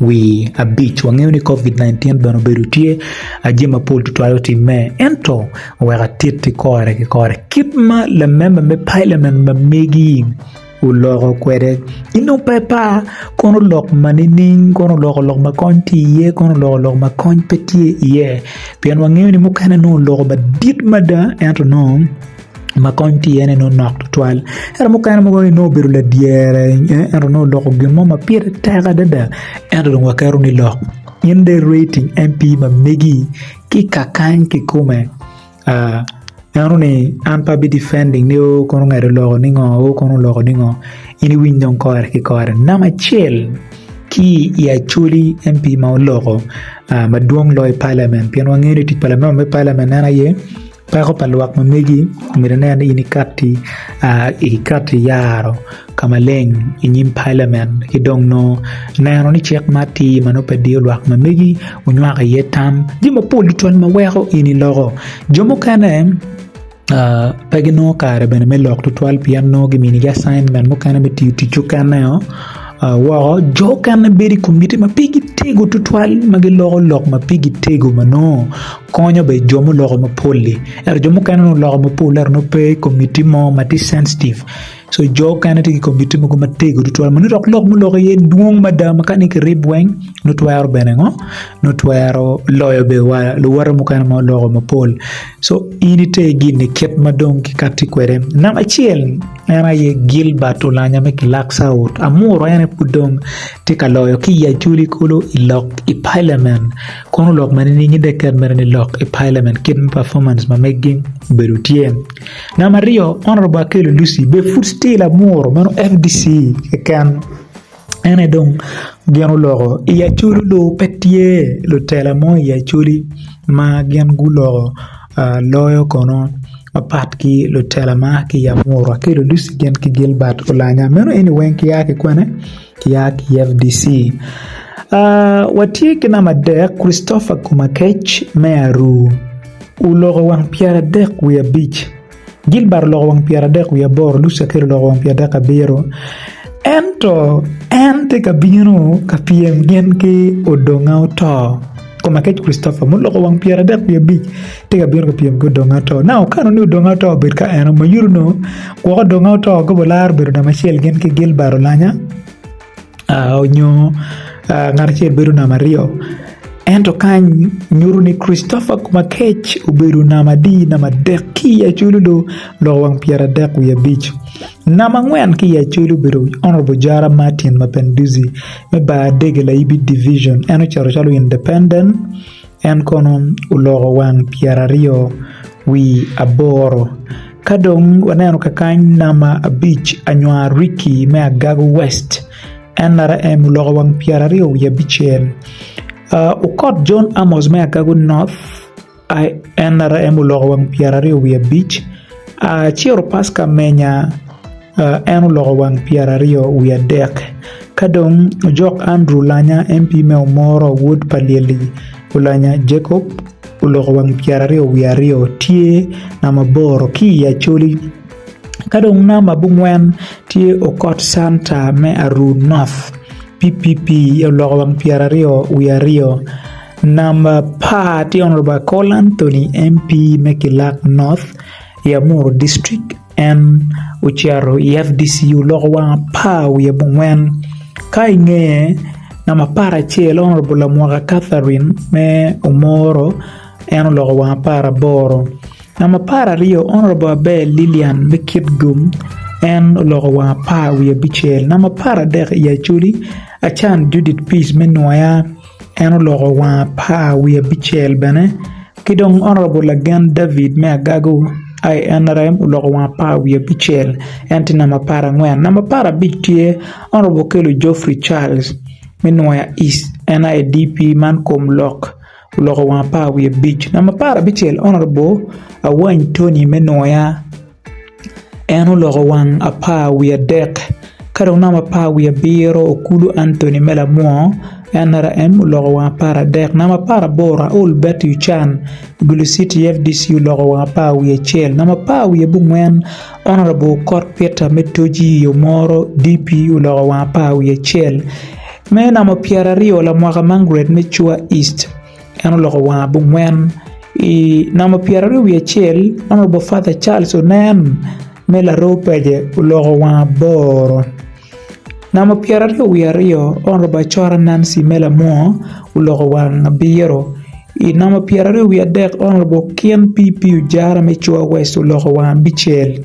Wi abic, Wangeyo ni COVID-19 bene obedo tye aje mapol tutwayo timme, ento wek atitti kore ki kore kit ma lamemba me Pailament ma megi oloko kwede. In dong pe ipar, kono lok ma nining, kono loko lok ma kony tye iye, kono loko lok ma kony pe tye iye. Pien wangeyo ni mukene nongo oloko madit mada ento nongo ma kony tyene nongo nok tutwal ento mukene mogo ni nongo obedo ladyere ento nongo oloko gin mo ma pire tek adada ento dong waketo ni lok in dong irating MP ma megi ki ka kany kikome ento ni an pe abi difending ni oo kono ongec oloko ningo oo kono oloko ningo in iwiny dong kore ki kore namba acel ki i Acholi MP ma oloko madwong loyo i palament pien wangeyo ni tic pa lanen me palament en aye Peko pa lwak ma megi myero inen ni in ikati yaro ka maleng i nyim palamen ki dong nongo neno ni cik ma atir ma nongo pe diyo lwak ma megi onywako iye tam jami mapol tutwal ma weko in iloko jo mukene pe ginongo kare bene me lok tutwal pien nongo giminigi acienmen mukene me tiyo tic mukene-o woko jo mukene bedo i komiti ma pe gitego tutwal ma giloko lok ma pe gitego ma nongo konyo bene jo muloko mapol-li ento jo mukene onongo oloko mapol-le ento nongo pe i komitti mo ma tye censitive so jo okene tye ki komitti mogo matego tutwal ma nongo dok lok muloko iye dwong mada ma kani kirib weng nongo twero bene ngo nongo twero loyo bene wa luwote mukene ma oloko mapol so in ite gini kit ma dong kikatti kwede namba acel en aye Gilbert Olanya me kilak caut amuru en aye pud dong tye ka loyo ki i Acholi kulu i lok i palamen Kono lok ma nining ite ket mere ni lok i Parliament kit ma performance ma megi obedo tye? Namba aryo, Honourable Akello Lucy be food still amuro meno FDC keken en aye dong gin oloko i Acholi lo pe tye lutela mo i Acholi ma gin guloko loyo kono mapat ki lutela ma ki i Amuru Akello Lucy gin ki Gilbert Olanya meno eni weng kia ki kwene? Kiak, FDC, A, Watye ki namba adek, Christopher Komakech, me Aruu, oloko wang pyeradek wiye abic, Gilbert oloko wang pyeradek wiye aboro, Lucy Akello oloko wang pyeradek abiro. Ento en tye ka bino ka pyem gin ki Odonga Oto. Komakec Christopher, muloko wang pyeradek wiye abic, tye ka bino ka pyem ki odongo ato. Na okano ni odongo ato obed ka en omo yuto nongo gwoko odongo ato gobo laro bedo namba acel gin ki Gilbert Olanya aa onyo aa ngat acel bedo namba aryo. Ento kany nyuto ni Christopher Komakec obedo namba adi namba adek ki i Acholi loo loko wang pyeradek wiye abic. Namba angwen ki i Acholi obedo Honourable Jara Martin Mapenduzi. me bar adege layibi divijin en oceto calo independent en kono oloko wang pyeraryo wi aboro ka dong waneno kakany namba abic anywa Ricky me Agago West en lare en oloko wang pyeraryo wiye abicel Okot John Amos me Agago North NRM oloko wang pyeraryo wiye abic, Ciro Paska Menya en oloko wang pyeraryo wiye adek, ka dong ojok Andrew Lanya, MP me Omoro, wod pa Lyelli Oulanya Jacob oloko wang pyeraryo wiye aryo tye namba aboro ki i Acholi, ka dong namba abongwen tye Okot Santa me Aruu North. PPP oloko wang pyera aryo wiye aryo number par tye Honourable Akol Anthony MP me kilak North i Amuru district en ocito i FDC oloko wang apar wiye abongwen ka i ngeye number apar acel Honourable Lamwaka Catherine me Omoro en oloko wang apar aboro. Namba apar aryo, Honourable Aber Lilian me Kitgum en oloko wang apar wiye abicel. Namba apar adek i Acholi, Acan Judith Peace me Nwoya en oloko wang apar wiye abicel bene ki dong Honourable Lagen David me Agago INRM oloko wang apar wiye abicel en tye namba apar angwen. Namba apar abic tye Honourable Okello Geoffrey Charles me Nwoya East en aye DP man Komlok. oloko wang apar wiye abic namba apar abicel honourable Awany Tony me Nwoya en oloko wang apar wiye adek ka dong namba apar wiye abiro Okulu Anthony me Lamwo NRM oloko wang apar adek namba apar aboro Raul Betty Ochan Gulu City fdc oloko wang apar wiye acel namba apar wiye abongwen honourable Okot Peter me Toji Omoro DP oloko wang apar wiye acel Me namo pyeraryo lamwaka man gred me cua east en oloko wanga bungwen i namo pyeraryo wiye acel honourable father Charles onen me laroo pece oloko wanga boro namo pyeraryo wiye aryo honourable acora Nancy me lamwo oloko wanga abiro i namo pyeraryo wiye adek honourable okin PP ojara me cua west oloko wanga abicel.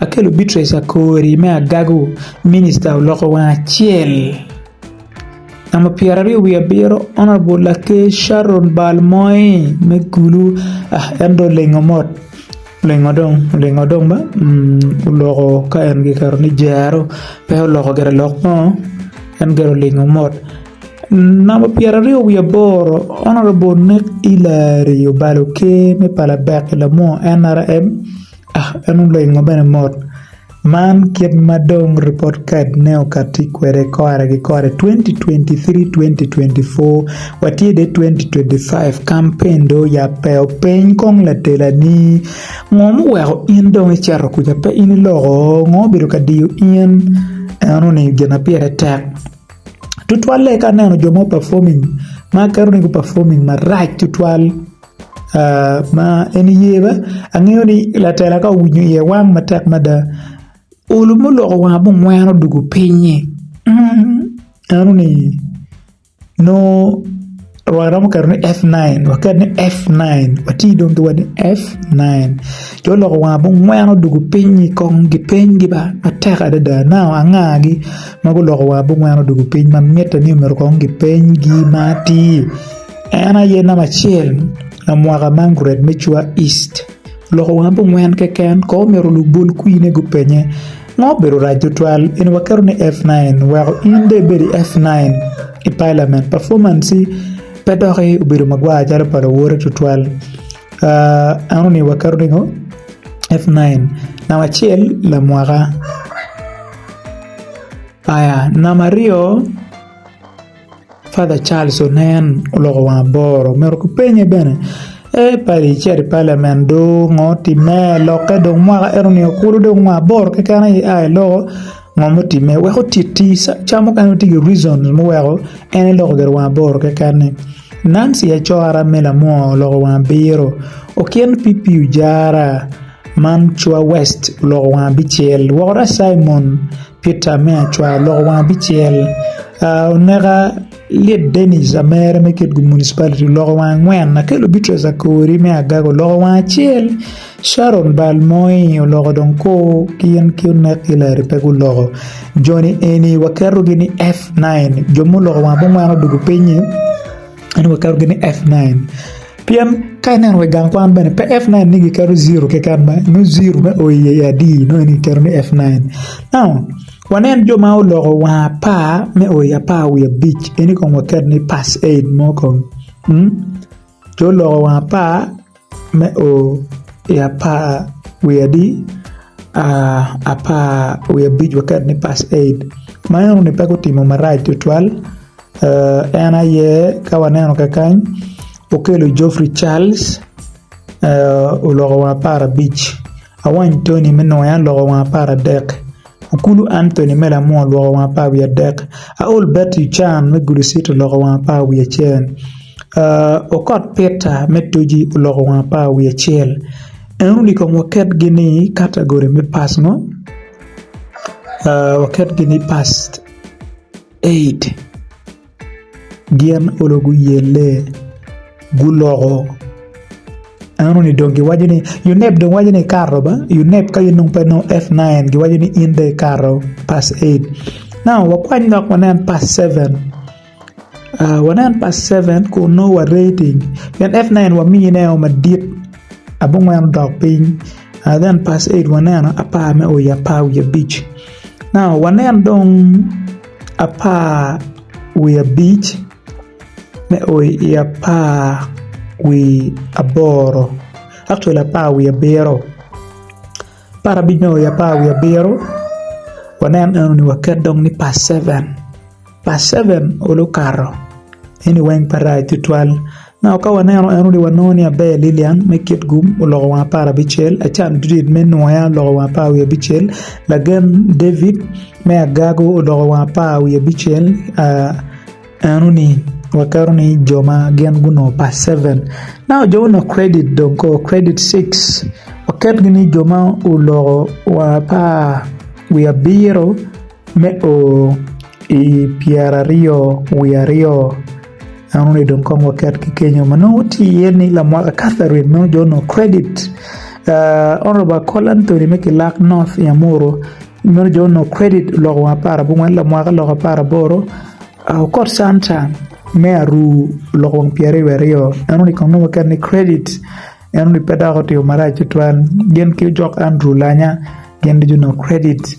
Akelo Beatrice Akori me agago minista oloko wang acel. Namba pyera aryo wiye abiro honourable laker Sharon bal moye me kulu ah en dong olingo mot olingo dong olingo dong ba oloko ka en giketo ni jero pe oloko gire lok ngo en gire olingo mot. Namba pyera aryo wiye aboro honourable Nick Hillary obalo oker me pala bek i lamor NRM. En olengo bene mot. Man kit ma dong Report Card-ne okatti kwede kore ki kore, 2023-2024, watye dong i 2025, kampen dong oyabbe. Openy kong latelani, 'Ngo muweko in dong icito kuca? Pe in iloko? Ngo obedo ka diyo in? En oningo gin ma pire tek tutwalle ka aneno jo ma performing ma aketo ni gu performing marac tutwal. ma en ye be angeyo ni latela ka owinyo iye wang matek mada olu ma oloko wange ma ongweno odwogo pinye enoni nongo waromo keto ni F9 waket ni F9 wati dong ki watti F9 ci oloko wange ma ongweno odwogo pinye kong gipiny gi ba matek adada nao anga gi ma guloko wange ma ongweno odwogo piny ma mitte ni myero kong gipenygi ma atir En aye namba acel na mwaka man gred me cua East. Loko wanga bungwen keken ko omyero olub bol kwine gupenye ngo obedo rac tutwal eni waketo ni F9 weko in dong ibed i F9 i parliament performance-ci pe doki obedo magwar calo pa lawote tutwal uh enoni waketo ni ngo F9 namba acel lamwaka aya namba aryo Father Charles onen oloko wange aboro omito ki penye bene ee padi icito i palamen do ngo timme lokke dong mwaka ento nio kulu dong mwaka aboro keken aye ia iloko ngo mutime weko otiti ca mukene weng tye ki reason muweko en eloko gire wange aboro keken ni Nancy Acora me Lamwo oloko wange abiro Okin PP Ojara man cwa West oloko wange abicel woko dong Cimon Pita me acwar loko wang abicel oneka lit Denis amere me Kitgum municipality oloko wang angwen Akello Beatrice Akori me Agago oloko wang acel Sharon bal moi oloko dong ko ki in ki onek Hillary pe guloko joni eni waketogi ni F9 jo ma oloko wang abongwen odwogo pinyi. ento waketo gini F9 pien ka ineno wa i gang kwan bene pe F9 ni giketo ziro keken ma nongo ziro me o iye adi nongo en kiketo ni F9 now wanen jo ma oloko wa apar me o i apar wiye abic eni kong waket ni pass aid mo kong jo oloko wa apar Me o i apar wiye adi apar wiye abic waket ni past eight ma en onongo ni pe gutimo marac tutwal en aye ka waneno kakany Okello Geoffrey Charles oloko wa apar abic Awany Tony me nongo en oloko wa apar adek. Okulu Anthony me Lamua olwoko wang apar wiye adek, Aol Bert Yucan me Gulu City oloko wang apar wiye acel, Okot Peter me Toji oloko wang apar wiye acel. En onongo i kom waketgi ni kategori me pass mo, waketgi ni pass eight. Gin olo guyelle, guloko. Eno ni dong giwaco ni Yuneb dong waco ni ikato ba Yuneb ka in dong pe inongo F9 giwaco ni in dong ikato pass eight. Now wakwany lok wanen pass seven aa wanen pass seven kun nongo wa rating pien F9 wamiyi ne o madit abongwen odok piny aa then pass eight waneno apar me o i apar wiye abic now wanen dong apar wiye abic me o i apar wiye aboro actually apar wiye abiro apar abic me o i apar wiye abiro wanen eno ni waket dong ni pa seven, pa seven olu okato eni weng pe rac tutwal Naka ka waneno en ni wanongo ni aber Lilian me kit gum oloko wang apar abicel, Acan Judith me Nuya oloko wang apar wiye abicel, lagen David me agago oloko wang apar wiye abicel eno ni waketo ni jo ma gin gunongo pa seven. Now jo gunongo credit dong kor credit six waketgi ni jo ma oloko wang apar wiye abiro me o i pyeraryo wiye aryo. Eno ni dong kong waket ki kenyo ma nongo tye iye ni Lamwaka Catherine nongo jo nongo credit uh, Honorable Akol Anthony me Kilak North i Amuru meno jo nongo credit oloko wang apar abongwen Lamwaka oloko apar aboro uh, Okot Santa me Aru oloko wang pyeraryo aryo eno ni kong nongo waket ni credit eno ni pe dok otimo marac tutwal gin ki ojok Andrew Lanya gin ducu nongo credit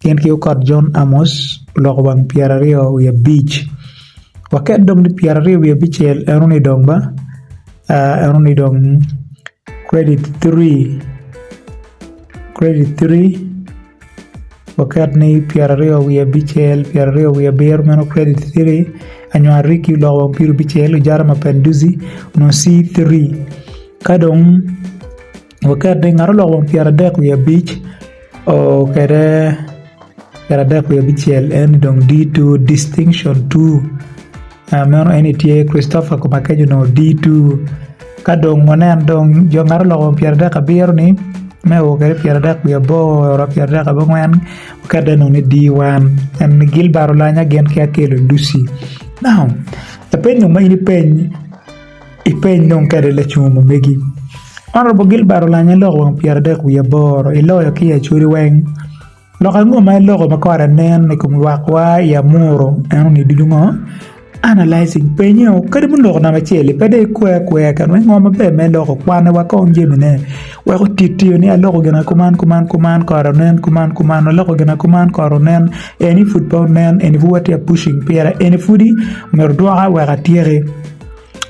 Gin ki okot Jon Amos oloko wang pyeraryo wiye abic waket dong ni pyeraryo wiye abicel eno ni dong ba eno ni dong credit three credit three waket ni pyeraryo wiye abicel pyeraryo wiye abiro meno credit three Anywar Rikki oloko wang pyerabicel Ojara Mapenduzi onongo C three ka dong Waket ni ngat oloko wang pyera dek wiye abic okede pyera dek wiye abicel en ni dong D two distinction two meno en ni tye Christopher Komakeco onongo D two ka dong wanen dong jo ngat oloko wang pyera dek abiro ni me o kede pyera dek wiye aboro oromo pyera dek wiye abongwen waket dong ni D one en ni Gilbert Olanya gin ki Akello Lucy now lapenyo ma in ipeny Ipeny dong kadi lacungo mamegi. Honourable Gilbert Olanyo iloko wang pyeradek wiye aboro iloyo ki i Acholi weng. Lok ango ma iloko ma kore nen i kom lwak wa i Amuru eno ni ducu ngo? Analysing, penyo, kadi ma oloko namba acel-li pe dong ikwe akweya kit me ngo maber ma iloko kwane wa kong jamine wek otitio ni aloko gina kuman kuman kuman kore onen kuman kuman aloko gina kuman kore onen eni pud pe onen eni pud watye ka pushing pire eni pudi myero odwoka wek atyeki.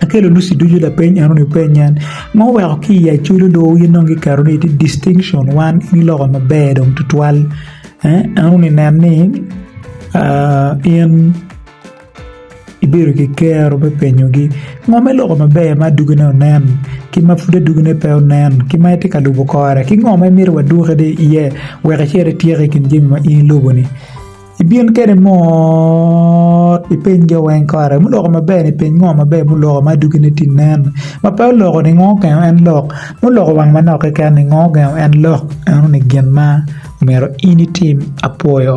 Akelo luci ducu lapeny enoni wupeny nen ma oweko ki i acwalo lowu gin dong giketo ni itye distinction wan ini loko maber dong tutwal eh enoni nen ni in ibedo ki kero me penyogi ngo me loko maber ma adwogine onen ki ma pud adwogine pe onen ki ma itye ka lubo kore ki ngo ma imito wadwoki iye wek icit ityeko i kin jami ma in ilubo-ni. Ibin kede mot ipeny jo weng kare muloko maber ni peny ngo maber muloko ma dogine tye nen ma pe oloko ni ngo okengo en lok muloko wang manok keken ni ngo okengo en lok eno ni gin ma omyero in itim apuoyo.